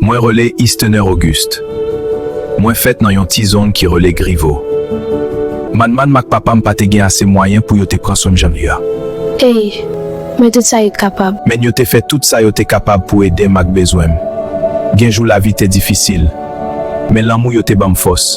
Mwen rele Ystener Auguste. Mwen fèt nan yon ti zong ki rele Grivo. Manman m ak papa m pa te gen ase mwayen pou yo te pran swen m jan li a. Ey, men tout sa yo t kapab. Men yo te fè tout sa yo te kapab pou ede m ak bezwen m. Gen jou lavi te difisil, men lanmou yo te ban m fòs.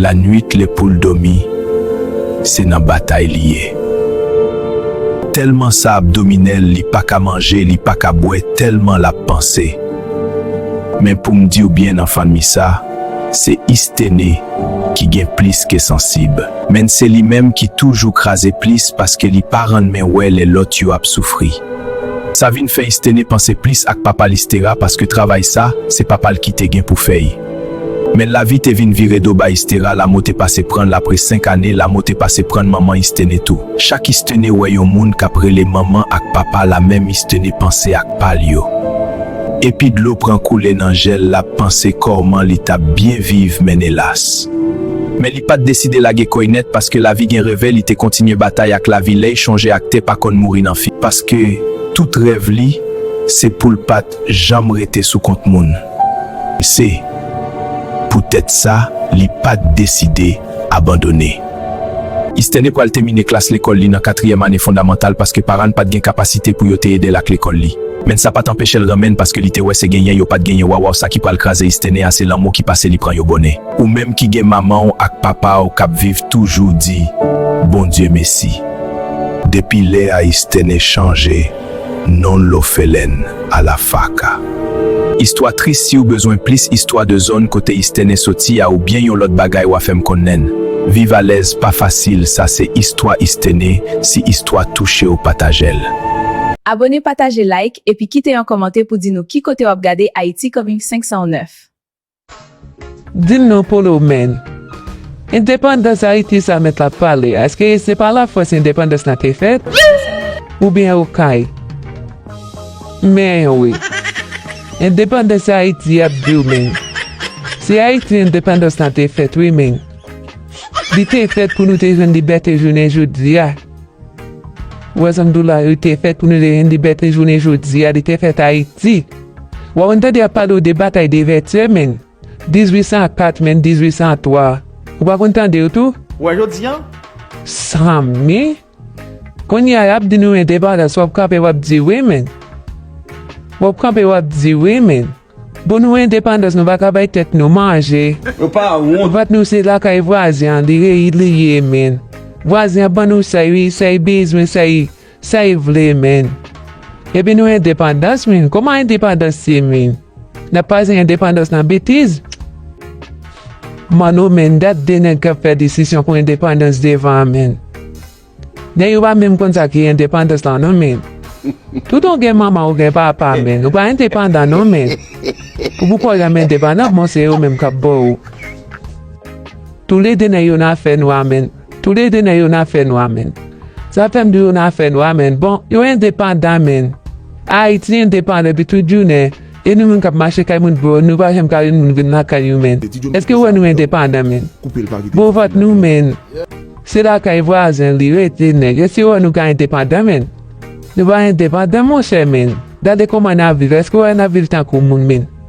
Lanwit lè pou l dòmi se nan batay li ye. Tèlman sa ap domine l li pa ka manje li pa ka bwè tèlman l ap panse. Men pou m di w byen nan fanmi sa se Isthene ki gen plis ke sansib. Men se li menm ki toujou kraze plis paske li pa rnmen wè lè lòt yo ap soufri. Sa vin fè Isthene panse plis ak papa l Isthera paske travay sa se papa l ki te gen pou fè. Men lavi te vin vire do bay Istera, lamo te pase pran l apre senk ane, lamo te pase pran manman Isthene tou. Chak Isthene wè yon moun k ap rele manman ak papa la menm Isthene panse ak pa l yo. Epi dlo pran koule nan je l l ap panse korman li t ap byen viv men elas. Men li pa t deside lage kò y nèt paske lavi gen reve li te kontinye batay ak lavi ley chonje ak te pa konn mouri nan fi. Paske tout rèv li se pou l pa. janm rete sou kont moun. Se Pou tèt sa li pat deside abandone. Istène pral temine klas lekòl li nan katriyèm ane fondamantal paske paran n pat gen kapasite pou yo te ede l ak lekòl li. Menn sa pat anpeche l renmen n paske li te wè se genyen yo pat genyen wawaw sa ki pral kraze Istène a se lanmou ki pase li pran yo bonè. Ou menm ki gen manman w ak papa w kap viv toujou di Bondye mesi. Depi lè a Istène chanje. Non lofelèn a la faka. Istwa tris siw bezwen plis istwa de zòn kote istene soti a ou byen yon lòt bagay wa fèm kon nen viv alèz pa fasil sa se istwa istene si istwa touchew patajel. Abone pataje like epi kite yon komante pou di nou ki kote wap gade Haiti coming 509. Dim non polo menn. Endepandans Haiti sa met la pale aske se pa la France endepandans la te fet? Ou byen okay? Men yon wi. Endepandans Haiti yap diw menn. Se Haiti endepandans la te fet wi menn. Li te fet pou nou te jwenn libete jounen jodia. Wè zan dola yo te fè tounen de libète jounen jodi a li te fèt Ayiti. Wè ou n tande y ap pale w de batay de Vètyè menn 1804 menn 1803 ou pa konn tande yo tou. Wè jodi an? Zanmi! Kounye a y ap di nou endepandans w ap kanpe w ap di wi menn. W ap kanpe w ap di wi menn. Bon nou endepandans nou paka bay tèt nou manje vat nou se lakay vwazen an li reyid li ye menn vwazen an ban nou say wi say bezwen say say vle menn epi nou endepandans menn kòman endepandans ye menn nap pase endepandans nan betiz manno menn dat de nèg kap fè disisyon pou endepandans devan menn. Nèg yo pa menm konn sa ki endepandans lan non men tout ou gen manman ou gen papa men ou pa endepandan non men pou pou kòw janm endepandan bon se yo menm kap baw ou tou le 2 nèg yo nan afè nwa men tou le 2 nèg yo nan afè nwa men sa fèm di yo nan afè nwa men bon yo endepandan men Ayiti endepandan depi tout jounen E nou menm kap mache kay moun boo nou pa janm ka yon moun vin lakay ou menn eske ou wè nou endepandan menn boo vant nou menn se lakay vwazen li rete nèg eske ou wè nou ka endepandan menn nou pa endepandan monchè menn gade kòman nap viv eske ou wè nap viv tankou moun menn.